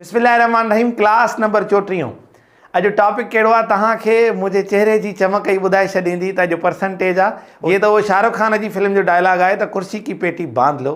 بسم الله الرحمن الرحيم ڪلاس نمبر چوٽيهون اڄ ٽاپڪ ڪهڙو آهي توهان کي منهنجي چهري جي چمڪ ئي ٻڌائي ڇڏيندي ته اڄ پرسنٽيج آ هي ته اهو شاهرخ خان جي فلم جو ڊائلاگ آهي ته ڪرسي ڪي پيٽي باند لو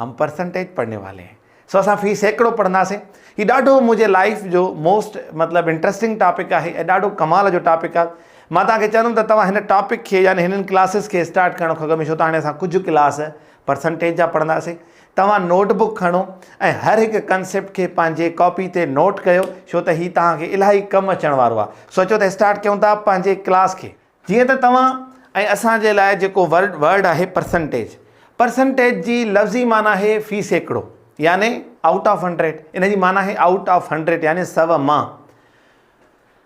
هم پرسنٽيج پڙهني والي هين سو اسان في سيڪڙو پڙهنداسين هي ڏاڍو منهنجي لائف جو موسٽ مطلب انٽرسٽنگ ٽاپڪ آهي ۽ ڏاڍو ڪمال جو ٽاپڪ آهي مان توهان کي چوندم ته توهان هن ٽاپڪ کي يعني هنن ڪلاسز کي اسٽارٽ ڪرڻ کان اڳ ۾ ڇو ته هاڻي اسان ڪجهه ڪلاس پرسنٽيج جا پڙهنداسين توهان نوٽ بڪ کڻو ۽ هر هڪ ڪنسيپٽ کي پنهنجي ڪاپي تي نوٽ ڪيو ڇو ته هي توهان کي الاهي ڪم اچڻ وارو آهي. سوچيو ته اسٽارٽ ڪيون ٿا پنهنجي ڪلاس کي. جيئن ته توهان ۽ اسان جي لاء جيڪو ورڊ ورڊ آهي پرسنٽيج. پرسنٽيج جي لفظي معنيٰ آهي في سيڪڙو يعني آئوٽ آف هنڊريڊ. ان جي معنيٰ آهي آئوٽ آف هنڊريڊ يعني سو مان.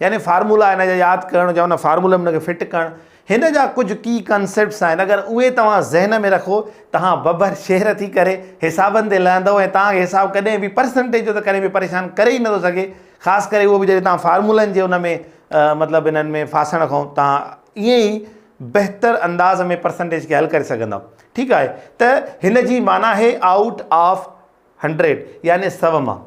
يعني فارمولا هن جا ياد ڪرڻ جا ان فارمولي ۾ ان کي فٽ ڪرڻ هن جا ڪجهه ڪي ڪانسيپٽس آهن اگر اهي توهان ذهن ۾ رکو تهان ببر شهر ٿي ڪري حسابن تي لهندو ۽ توهان کي حساب ڪڏهن به پرسنٽيج جو ته ڪڏهن به پريشان ڪري ئي نٿو سگهي خاص ڪري اهو به جڏهن توهان فارمولن جي ان ۾ مطلب انهن ۾ ڦاسڻ کان توهان ائين ئي بهتر انداز ۾ پرسنٽيج کي حل ڪري سگهندا ٺيڪ آهي ته هن جي معنيٰ آهي آئوٽ آف هنڊريڊ يعني سو مان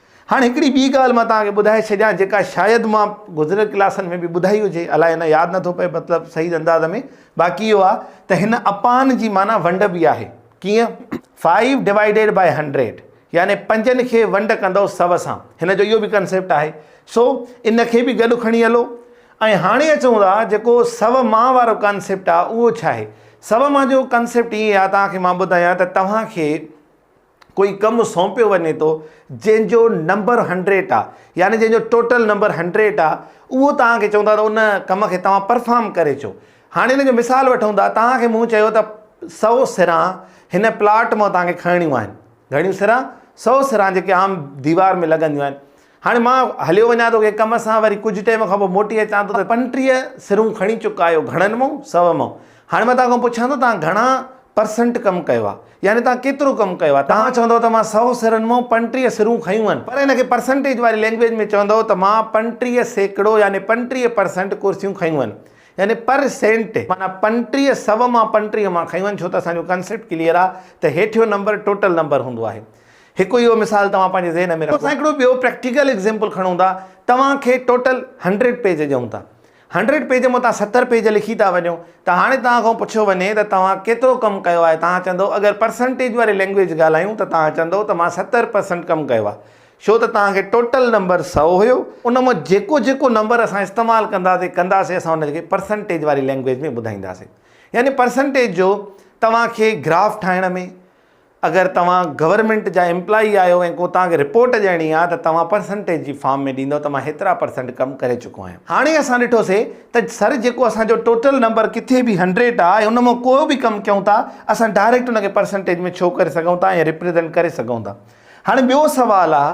هاڻ هڪڙي ٻي ڳالهه مان توهان کي ٻڌائي ڇڏيان جيڪا شايد مان گذريل ڪلاسن ۾ به ٻڌائي هجي الائي نه ياد نٿو پئي مطلب صحيح انداز ۾ باقي اهو آ ته هن اپان جي معنيٰ ونڊ به آهي ڪيئن Five Divided By Hundred يعني پنجن کي ونڊ ڪندؤ سو سان هن جو اهو به ڪنسيپٽ آهي سو ان کي به گڏ کڻي هلو ۽ هاڻي اچون ٿا جيڪو سو مان وارو ڪنسيپٽ آ اهو ڇا آهي سو مان جو ڪنسيپٽ ائين آ توهان کي مان ٻڌايان ته توهان کي ڪوئي ڪم سونپيو وڃي ٿو جنهن جو نمبر هنڊريٽ آ يعني جنهن جو ٽوٽل نمبر هنڊريٽ آ اهو توهان کي چون ٿا ته ان ڪم کي توهان پرفارم ڪري چو هاڻي ان جو مثال وٺون ٿا توهان کي مون چيو ته سو سران هن پلاٽ مان توهان کي کڻڻيون آهن گهڻيون سران سو سران جيڪي عام ديوار ۾ لڳنديون آهن هاڻي مان هليو وڃان ٿو ڪنهن ڪم سان، وري ڪجهه ٽيم کان پوء موٽي اچان ٿو ته پنٽيهه سرون کڻي چڪا آهيو، گهڻن مئو، سو مئو. هاڻي مان توهان کان پڇان ٿو توهان گهڻا پرسنٽ ڪم ڪيو آهي، يعني توهان ڪيترو ڪم ڪيو آهي؟ توهان چوندؤ ته مان سو سرن مئو پنٽيهه سرون کنيون آهن، پر ان کي پرسنٽيج واري لينگويج ۾ چوندؤ ته مان پنٽيهه سيڪڙو يعني پنٽيهه پرسنٽ ڪرسيون کنيون آهن، يعني پر سينٽ معنيٰ پنٽيهه سو مان پنٽيهه مان کنيون آهن، ڇو ته اسان جو ڪنسيپٽ ڪليئر آهي ته هيٺيون نمبر ٽوٽل نمبر هوندو آهي. هڪ اهو مثال توهان پنهنجي ذهن ۾ رکو. اسان هڪڙو ٻيو پريڪٽيڪل ايگزيمپل کڻون ٿا. توهان کي ٽوٽل هنڊريڊ پيج ڏيون ٿا. هنڊريڊ پيج مان توهان ستر پيج لکي ٿا وڃو ته هاڻي توهان کان پڇيو وڃي ته توهان ڪيترو ڪم ڪيو آهي توهان چوندو اگر پرسنٽيج واري لينگويج ڳالهايون ته توهان چوندو ته مان ستر پرسنٽ ڪم ڪيو آهي ڇو ته توهان کي ٽوٽل نمبر سؤ هيو ان مان جيڪو جيڪو نمبر اسان استعمال ڪنداسي ڪنداسي اسان ان کي پرسنٽيج واري لينگويج ۾ ٻڌائينداسي يعني پرسنٽيج جو توهان کي گراف ٺاهڻ ۾. اگر توهان گورنمينٽ جا امپلائي آهيو ۽ ڪو توهان کي رپورٽ ڏيڻي آهي ته توهان پرسنٽيج جي فارم ۾ ڏيندؤ ته مان هيترا پرسنٽ ڪم ڪري چڪو آهيان. هاڻي اسان ڏٺو سي ته سر جيڪو اسان جو ٽوٽل نمبر ڪٿي به هنڊريڊ آهي ان مان ڪو به ڪم ڪيون ٿا اسان ڊائريڪٽ ان کي پرسنٽيج ۾ شو ڪري سگهون ٿا ۽ ريپريزنٽ ڪري سگهون ٿا. هاڻي ٻيو سوال آهي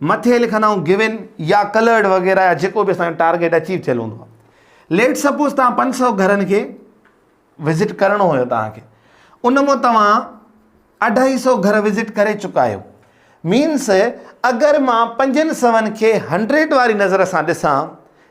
مٿي لکن آئون گيون يا ڪلرڊ وغيره يا جيڪو به اسان جو ٽارگيٽ اچيو چيل هوندو آهي ليٽ سپوز تان 500 گھرن کي وزٽ ڪرڻو هو تان کي ان مون توهان 250 گھر وزٽ ڪري چڪا آهيو مينس اگر مان 500 کي 100 واري نظر سان ڏسان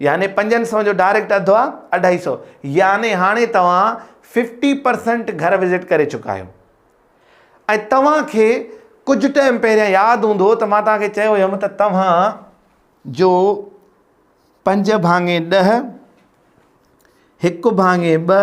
يعني پنجن سون جو ڊائريڪٽ اڌ آ اڍائي سو يعني هاڻي توهان ففٽي پرسنٽ گهر وزٽ ڪري چڪا آهيو ۽ توهان کي ڪجهه ٽائم پهريان ياد هوندو ته مان توهان کي چيو هيم ته توهان جو پنج ڀاڱي ڏه هڪ ڀاڱي ٻه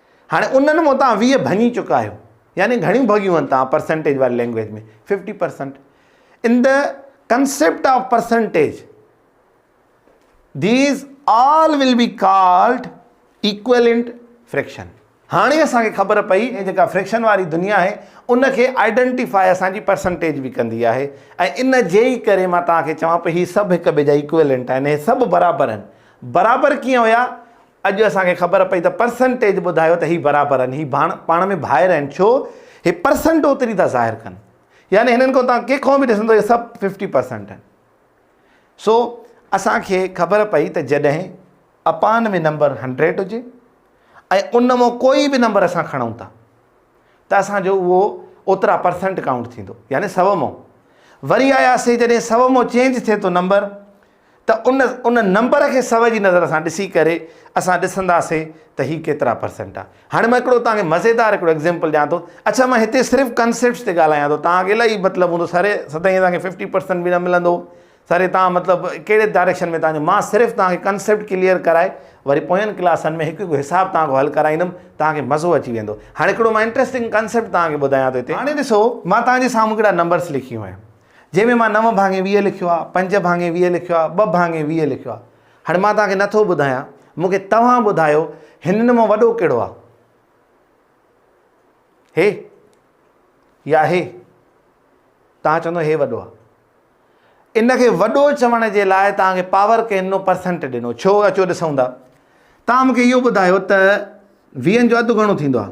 هاڻي انهن مون تان ويهه ڀڃي چڪا آهيو يعني گهڻيون ڀڳيون آهن تان پرسنٽيج واري language ۾ fifty percent in the concept of percentage these all will be called equivalent fraction هاڻي اسان کي خبر پئي ۽ جيڪا فريڪشن واري دنيا آهي ان کي آئيڊنٽيفائي اسان جي پرسنٽيج به ڪندي آهي ۽ ان جي ئي ڪري مان توهان کي چوان پئي هي سڀ هڪ ٻئي جا ايڪويلنٽ آهن هي سڀ برابر آهن برابر ڪيئن هيا اڄ اسان کي خبر پئي ته پرسنٽيج ٻڌايو ته هي برابر آهن، هي پاڻ ۾ ڀائر آهن، ڇو هي پرسنٽ اوتري ٿا ظاهر ڪن، يعني هنن کان توهان ڪنهن کان به ڏسندو هي سڀ ففٽي پرسنٽ آهن. سو اسان کي خبر پئي ته جڏهن اپان ۾ نمبر هنڊريڊ هجي ۽ ان مان ڪوئي به نمبر اسان کڻون ٿا ته اسان جو اهو اوترا پرسنٽ ڪائونٽ ٿيندو يعني سو مان وري آياسي جڏهن سو مان چينج ٿئي ٿو نمبر ته ان ان نمبر کي سو جي نظر سان ڏسي ڪري اسان ڏسنداسين ته هي ڪيترا پرسنٽ آ. هاڻي مان هڪڙو توهان کي مزيدار هڪڙو ايگزيمپل ڏيان ٿو. اڇا مان هتي صرف ڪنسيپٽس تي ڳالهايان ٿو. توهان کي الائي مطلب هوندو سر سدائين اسان کي ففٽي پرسنٽ به نه ملندو. سر توهان مطلب ڪهڙي ڊائريڪشن ۾ توهان جو مان صرف توهان کي ڪنسيپٽ ڪليئر ڪرائي وري پوين ڪلاسن ۾ هڪ هڪ حساب توهان کان حل ڪرائيندم توهان کي مزو اچي ويندو. هاڻي هڪڙو مان انٽريسٽنگ ڪنسيپٽ توهان کي ٻڌايان ٿو هتي. هاڻي ڏسو مان توهان جي سامهون هڪڙا نمبرس لکيون آهن. جنهن ۾ مان نو ڀاڱي ويهه لکيو آهي، پنج ڀاڱي ويهه لکيو آهي، ٻه ڀاڱي ويهه لکيو آهي. هاڻي مان توهان کي نه ٿو ٻڌايان، مون کي توهان ٻڌايو هنن مان وڏو ڪهڙو آهي؟ هي يا هي؟ توهان چوندو هي وڏو آهي. ان کي وڏو چوڻ جي لاء توهان کي پاور ڪنهن ڏنو؟ پرسنٽ ڏنو. ڇو؟ اچو ڏسون ٿا. توهان مون کي اهو ٻڌايو ته ويهن جو اڌ گهڻو ٿيندو آهي.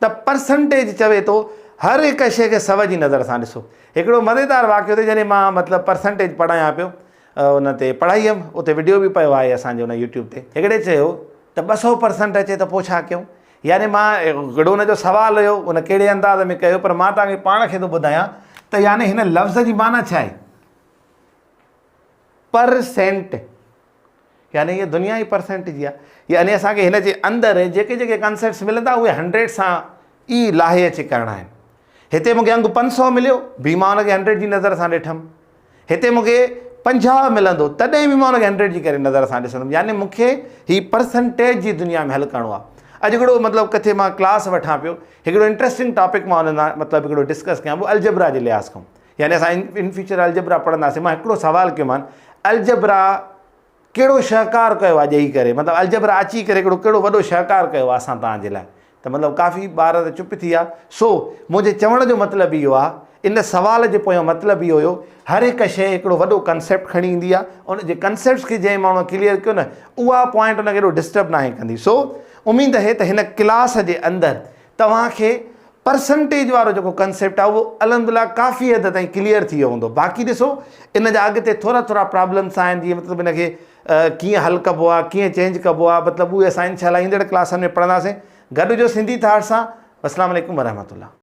ته پرسنٽيج چوي ٿو هر هڪ شيء کي سوئي جي نظر سان ڏسو. هڪڙو مزيدار واقعو ته جڏهن مان مطلب پرسنٽيج پڙهايان پيو ان تي پڙهائي هيم اتي وڊيو به پيو آهي اسان جي ان يوٽيوب تي هڪڙي چيو ته ٻه سؤ پرسنٽ اچي ته پوء ڇا ڪيون يعني مان هڪڙو ان جو سوال هيو ان ڪهڙي انداز ۾ ڪيو پر مان توهان کي پاڻ کي ٿو ٻڌايان ته يعني هن لفظ جي معنيٰ ڇا آهي پرسنٽ يعني هيء دنيا ئي پرسينٽ جي آهي. يعني اسان کي هن جي اندر جيڪي جيڪي ڪانسيپٽس ملندا اهي هنڊريڊ سان ئي لاهي اچي ڪرڻا آهن. هتي مون کي انگ پنج سؤ مليو به مان ان کي هنڊريڊ جي نظر سان ڏٺم. هتي مون کي پنجاهه ملندو تڏهن به مان ان کي هنڊريڊ جي ڪري نظر سان ڏسندم. يعني مون کي هي پرسينٽيج جي دنيا ۾ حل ڪرڻو آهي. اڄ هڪڙو مطلب ڪٿي مان ڪلاس وٺان پيو. هڪڙو انٽريسٽنگ ٽاپڪ مان ان سان مطلب هڪڙو ڊسڪس ڪيان پيو الجبرا جي لحاظ کان. يعني اسان ان فيوچر الجبرا پڙهنداسين مان هڪڙو سوال ڪيومان الجبرا ڪهڙو شهڪار ڪيو آهي ڄئي ڪري مطلب الجبرا اچي ڪري هڪڙو ڪهڙو وڏو شهڪار ڪيو آهي اسان توهان جي لاء ته مطلب ڪافي ٻار ته چپ ٿي ويا سو منهنجي چوڻ جو مطلب اهو آهي ان سوال جو پويان مطلب اهو هيو هر هڪ شيء هڪڙو وڏو ڪنسيپٽ کڻي ايندي آهي ان جي ڪنسيپٽس کي جنهن ماڻهو ڪليئر ڪيو نه اها پوائنٽ ان کي ڏسٽرب ناهي ڪندي سو اميد اهي ته هن ڪلاس جي اندر توهان کي پرسنٽيج وارو جيڪو ڪنسيپٽ آهي اهو الحمدلله ڪافي حد تائين ڪليئر ٿي ويو هوندو باقي ڏسو ان جا اڳتي ٿورا ٿورا پرابلمس آهن جيئن مطلب ان کي ڪيئن حل ڪبو آهي ڪيئن چينج ڪبو آهي مطلب اهي اسان انشاء الله ايندڙ ڪلاسن ۾ پڙهنداسين گڏ هجو سنڌي ٿاٽ سان السلام عليڪم ورحمة الله